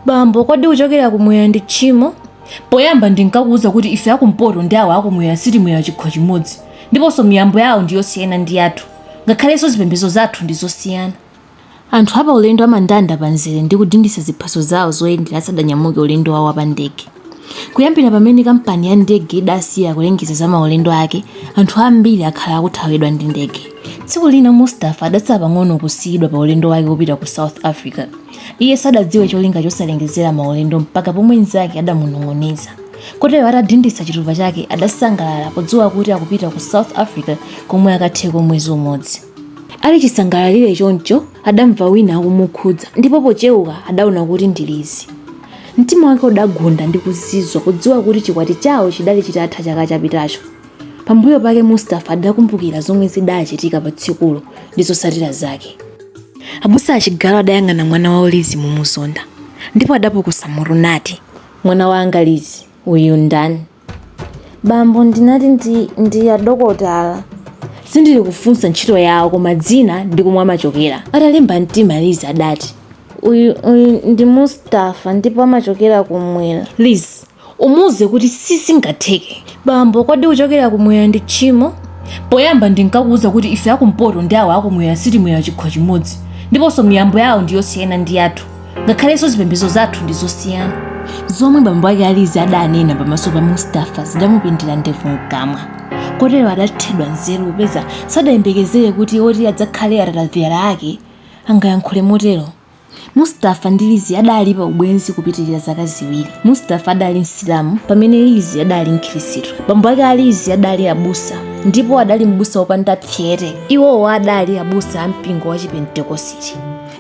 bambo kodi kuchokera kumwera ndi tchimo poyamba ndinkakuwuza kuti ife akumpoto ndi awo akumwera sitimwera chikho chimodzi ndiponso miyambo yawo ndi yosiyana ndi yathu ngakhalenso zipembedzo zathu ndi zosiyana anthu apa ulendo amandanda pa nzere ndi kudinditsa ziphaso zawo zoyendera asadanyamuke ulendo wawo wa pa ndege kuyambira pamene kampani ya ndege idasiya kulengeza za maulendo ake anthu ambiri akhala akuthawidwa ndi ndege tsiku lina mustafa adatsala pang'ono kusiyidwa pa ulendo wake wopita ku south africa Iye sadadziwe cholinga chosalengezera maulendo mpaka pomwe mnzake adamunong'oneza. Kotero atadinditsa chitupa chake adasangalala podziwa kuti akupita ku South Africa komwe akatheko mwezi umodzi. Ali chisangalalire choncho, adamva wina akumukhudza ndipo pocheuka adaona kuti ndi Lizzie. Mtima wake udagunda ndi kuzizwa podziwa kuti chikwati chawo chidali chitatha chaka chapitacho. Pambuyo pake Mustapha adakumbukira zomwe zidachitika pa tsikulo ndi zotsatira zake. Abusa a Chigalu adayang'ana mwana wawo Lizzie momuzonda ndipo adapukusa mutu nati. Mwana wanga Lizzie, uyu ndani? Bambo, ndinati ndi adokotala. Sindili kufunsa ntchito yawo koma dzina ndi komwe amachokera. Atalimba mtima Lizzie adati. Uyu ndi Mustapha ndipo amachokera kumwera. Lizzie, Umuuze kuti sizingatheke. Bambo, kodi kuchokera kumwera ndi tchimo? Poyamba ndinkakuuza kuti ife akumpoto ndi awo akumwera sitimwera chikho chimodzi, ndiponso miyambo yawo ndi yosiyana ndi yathu, ngakhalenso zipembedzo zathu ndi zosiyana. Zomwe bambo ake a Lizzie adanena pamaso pa Mustafa zidamupindira ndevu mkamwa, kotero adathedwa nzeru popeza sadayembekezere kuti woti adzakhale atatavyala ake angayankhule motero. Mustafa ndi Lizzie adali pa ubwenzi kupitirira zaka ziwiri. Mustafa adali Msilamu pamene Lizzie adali Mkhristu. Bambo ake a Lizzie adali abusa ndipo adali mbusa wopanda psyete. Iwowo adali abusa a mpingo wa Chipentekositi.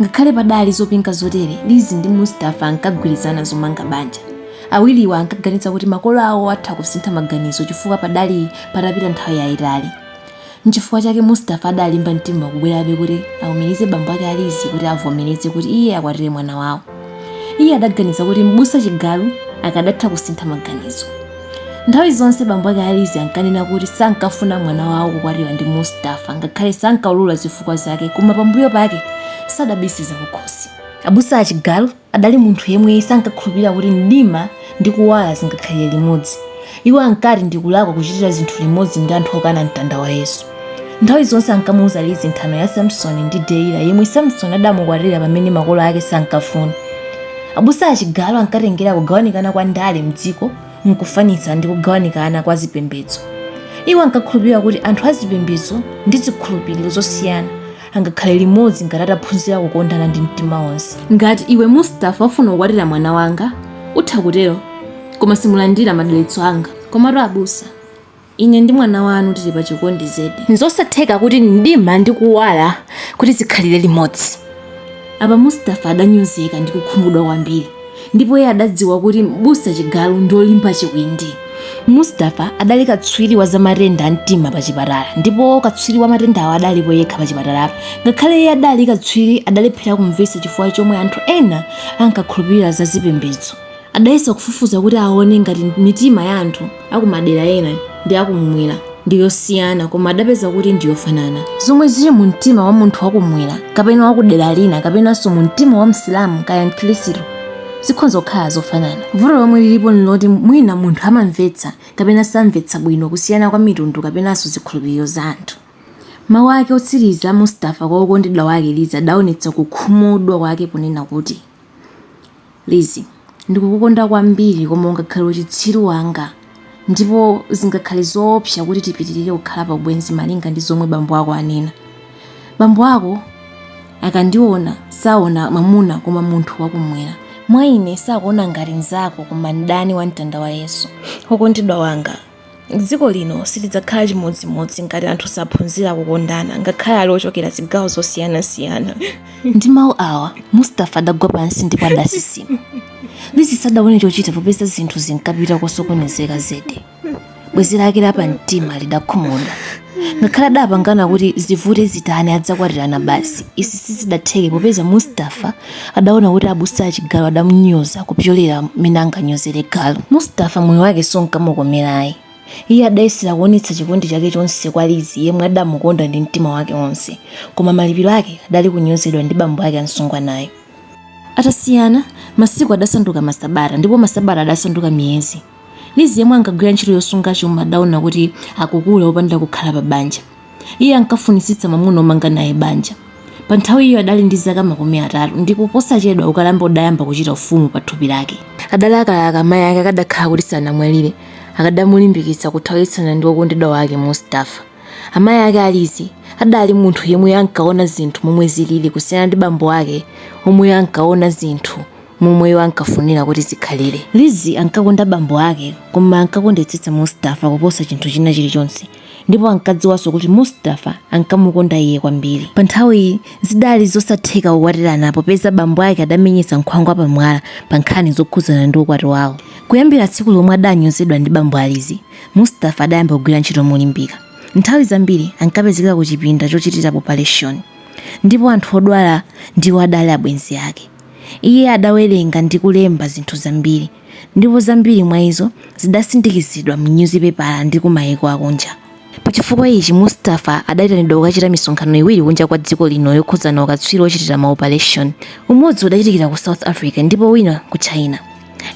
Ngakhale padali zopinga zotere, Lizzie ndi Mustafa ankagwirizana zomanga banja. Awiriwa ankaganiza kuti makolo awo atha kusintha maganizo chifukwa padali patapita nthawi yayitali. N'chifukwa chake Mustafa adalimba mtima kubwerabe kuti aumirize bambo ake a Lizzie kuti avomereze kuti iye akwatire mwana wawo. Iye adaganiza kuti Mbusa Chigalu akadatha kusintha maganizo. Nthawi zonse bambo ake a Lizzie ankanena kuti sankafuna mwana wawo kukwatiwa ndi Mustafa ngakhale sankaulula zifukwa zake koma pambuyo pake sadabise zakukhosi. Abusa a Chigalu Adali munthu yemwe sankakhulupirira kuti mdima ndi kuwala zingakhalire limodzi. Iwo ankati ndi kulakwa kuchitira zinthu limodzi ndi anthu okana mtanda wa Yesu. Nthawi zonse ankamuuza Lizzie nthano ya Samsoni ndi Delila yemwe Samsoni adamukwatira pamene makolo ake sankafuna. Abusa a Chigalu ankatengera kugawanikana kwa ndale m'dziko n'kufanitsa ndi kugawanikana kwa zipembedzo. Iwo ankakhulupirira kuti anthu a zipembedzo ndi zikhulupiriro zosiyana angakhale limodzi ngati ataphunzira kukondana ndi mtima wonse ngati iwe mustafa ufuna kukwatira mwana wanga utha kutero koma simulandira madalitso anga komatu abusa ine ndi mwana wanu tili pa chikondi zedi nzosatheka kuti mdima ndi kuwala kuti zikhalire limodzi Apa Mustafa adanyozeka ndi kukhumudwa kwambiri ndipo iye adadziwa kuti Mbusa Chigalu ndi olimba chiwindi. Mustafa adali katswiri wa zamatenda a mtima pachipatala ndipo katswiri wa matendawo adalipo yekha pachipatalapo. Ngakhale iye adali katswiri adalephera kumvetsa chifukwa chomwe anthu ena ankakhulupirira za zipembedzo. Adayesa kufufuza kuti aone ngati mitima ya anthu a kumadera ena ndi a kummwera ndi yosiyana koma adapeza kuti ndi yofanana. Zomwe zili mumtima wa munthu wa kummwera kapena wa kudera lina kapenanso mumtima wa Msilamu kaya Mkhirisitu zikhonza kukhala zofanana. Vuto lomwe lilipo n'loti mwina munthu amamvetsa kapena samvetsa bwino kusiyana kwa mitundu kapenanso zikhulupiriro za anthu. Mawu ake otsiriza a Mustafa kwa wokondedwa wake Lizi adaonetsa kukhumudwa kwake ponena kuti. Lizi, ndikukukonda kwambiri koma ungakhale uchitsiru wanga ndipo zingakhale zoopsa kuti tipitirire kukhala pa ubwenzi malinga ndi zomwe bambo ako anena. Bambo ako akandiona saona mwamuna koma munthu wakumwera. Mwa ine sakuona ngati mnzako koma mdani wa mtanda wa Yesu. Wokondedwa wanga, Dziko lino silidzakhala chimodzimodzi ngati anthu saphunzira kukondana ngakhale ali ochokera zigawo zosiyanasiyana. Ndi mawu awa, Mustafa adagwa pansi ndipo adasisima. Lizi sadaone chochita popeza zinthu zinkapita kosokonezeka zedi. Bwenzi lake lapamtima lidakhumudwa. Ngakhale adapangana kuti zivute zitani adzakwatirana basi, izi sizidatheke popeza Mustafa adaona kuti abusa a chigalu adamunyoza kupyolera mmene anganyozere galu mustafa moyo wake sunkamukomera ayi iye adayesera kuonetsa chikondi chake chonse kwa lizi yemwe adamukonda ndi mtima wake wonse koma malipiro ake adali kunyozedwa ndi bambo ake a msungwanayo atasiyana masiku adasanduka masabata ndipo masabata adasanduka miyezi Lizi, yemwe ankagwira ntchito yosunga chuma, adaona kuti akukula opanda kukhala pabanja. Iye ankafunitsitsa mwamuna womanga naye banja. Panthawiyo adali ndi zaka makumi atatu ndipo posachedwa ukalamba udayamba kuchita ufumu pathupi lake. Adalakalaka mayi ake akadakhala kuti sanamwalire, akadamulimbikitsa kuthawitsana ndi wokondedwa wake Mustafa. Amayi ake a Lizi adali munthu yemwe ankaona zinthu momwe zilili kusiyana ndi bambo ake omwe ankaona zinthu momwe iwo ankafunira kuti zikhalire. Lizzie ankakonda bambo ake koma ankakondetsetsa Mustafa kuposa chinthu china chilichonse ndipo ankadziwanso kuti Mustafa ankamukonda iye kwambiri. Pa nthawiyi zidali zosatheka kukwatirana popeza bambo ake adamenyetsa nkhwangwa pamwala pa nkhani zokhudzana ndi ukwati wawo. Kuyambira tsiku lomwe adanyozedwa ndi bambo a Lizzie, Mustafa adayamba kugwira ntchito molimbika. Nthawi zambiri ankapezeka kuchipinda chochitira opaleshoni ndipo anthu odwala ndiwo adali abwenzi ake. Iye adawerenga ndi kulemba zinthu zambiri, ndipo zambiri mwa izo zidasindikizidwa m'nyuzipepala ndi ku maiko akunja. Pa chifukwa ichi, Mustafa adaitanidwa kukachita misonkhano iwiri kunja kwa dziko lino yokhudzana ukatswiri wochitira maopaleshoni. Umodzi udachitikira ku South Africa ndipo wina ku China.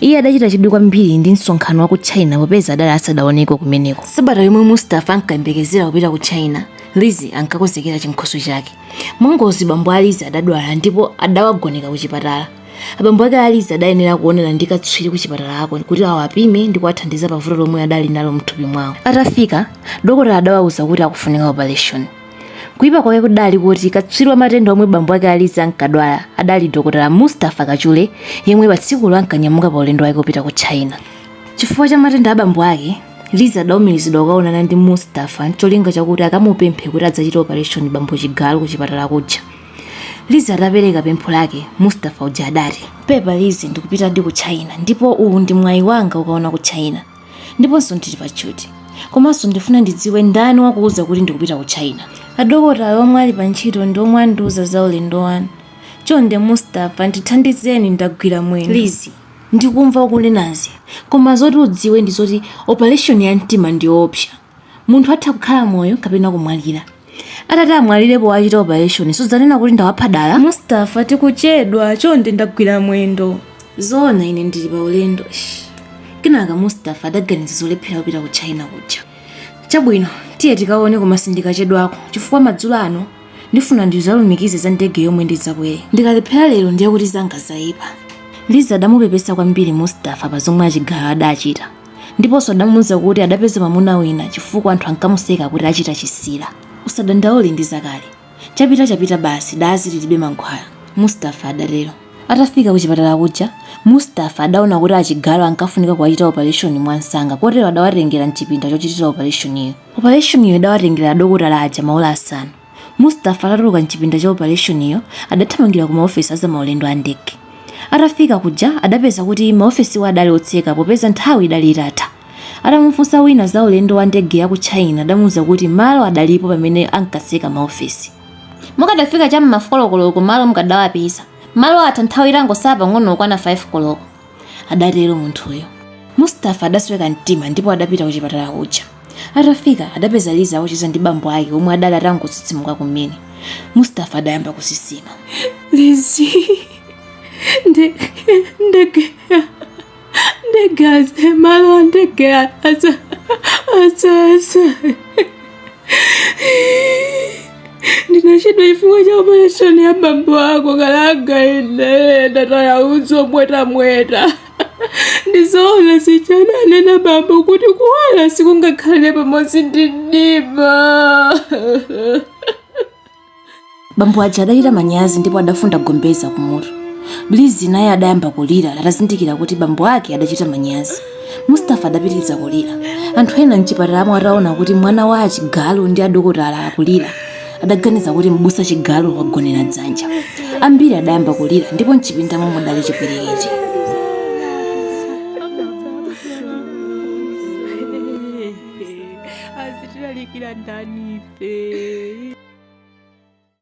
Iye adachita chidwi kwambiri ndi msonkhano wa ku China popeza adali asadaoneko kumeneko. Sabata yomwe Mustafa ankayembekezera kupita ku China, Lizzie ankakonzekera chinkhoswe chake. mwangozi bambo a lizi adadwala ndipo adawagoneka ku chipatala abambo ake a lizi adayenera kuonana ndi katswiri ku chipatalako kuti awapime ndi kuwathandiza pa vuto lomwe adali nalo mthupi mwawo atafika dokotala adawauza kuti akufunika operation kuipa kwake kudali kuti katswiri wa matenda omwe bambo ake a lizi ankadwala adali dokotala mustafa kachule yemwe pa tsikulo ankanyamuka pa ulendo wake wopita ku china chifukwa cha matenda a bambo ake lizi adaumirizidwa kukaonana ndi mustafa ncholinga chakuti akamupemphe kuti adzachite operation bambo chigalo ku chipatala kuja lizi atapereka pempho lake mustafa uja adati pepa lizi ndikupitadi ku china ndipo uwu ndi mwayi wanga wokaona ku china ndiponso ndili pa tchuthi komanso ndifuna ndidziwe ndani wakuuza kuti ndikupita ku china adokotala omwe ali pa ntchito ndi omwe andiuza za ulendo wanu chonde mustafa ndithandizeni ndagwira mwendo lizi Ndikumva ukunenazi koma zoti udziwe ndi zoti opaleshoni ya mtima ndi yoopsa. Munthu atha kukhala moyo kapena kumwalira. Atati amwalire powachita opaleshoni sudzanena kuti ndawapha dala? Mustafa, tikuchedwa, chonde ndagwira mwendo. Zoona ine ndili paulendo, eish. Kenaka Mustafa adaganiza zolephera kupita ku China kuja. Chabwino, tiye tikaone koma sindikachedwako chifukwa madzulo ano Ndifuna ndidzalumikize za ndege yomwe ndidzakwere. Ndikalephera lero ndiye kuti zanga zaipa. Lizzie adamupepesa kwambiri Mustafa pa zomwe a Chigalo adachita ndiponso adamuuza kuti adapeza mwamuna wina chifukwa anthu ankamuseka kuti achita chisira. Usadandaule ndi zakale. Chapita chapita basi dazi lilibe mankhwala, Mustafa adatero. Atafika kuchipatala kuja, Mustafa adaona kuti a Chigalo ankafunika kuwachita opaleshoni mwansanga kotero adawatengera m'chipinda chochitira opaleshoniyo. Opaleshoniyo idawatengera adokotala aja maola asanu. Mustapha atatuluka m'chipinda cha opaleshoniyo, adathamangira kumaofesi a zamaulendo a ndege. Atafika kuja adapeza kuti maofesiwo adali otseka popeza nthawi idali itatha. Atamufunsa wina za ulendo wa ndege ya ku China adamuuza kuti malo adalipo pamene ankatseka maofesi. Mukadafika cha m'ma folo koloko malo mukadawapeza. Malo atha nthawi itangosala pang'ono kukwana 5 koloko. adatero munthuyo mustafa adasweka mtima ndipo adapita ku chipatala kuja atafika adapeza lizi akucheza ndi bambo ake omwe adali atangotsitsimuka kumene mustafa adayamba kusisima Lizi, ndege malo ndege asa ndinachedwa chifukwa cha opereshoni ya bambo ako kalanga ine ndataya udzu omwetamweta ndizoona suja ananena bambo kuti kuwala sikungakhale pamodzi ndi mdima bambo aja adachita manyazi ndipo adafunda gombeza kumutu lizi naye adayamba kulira atazindikira kuti bambo ake adachita manyazi Mustapha adapitiriza kulira. Anthu ena m'chipatalamo ataona kuti mwana wa a Chigalo ndi adokotala akulira, adaganiza kuti Mbusa Chigalo wagonera dzanja. Ambiri adayamba kulira ndipo m'chipindamo mudali chipwirikiti. azitilalikira ndani ife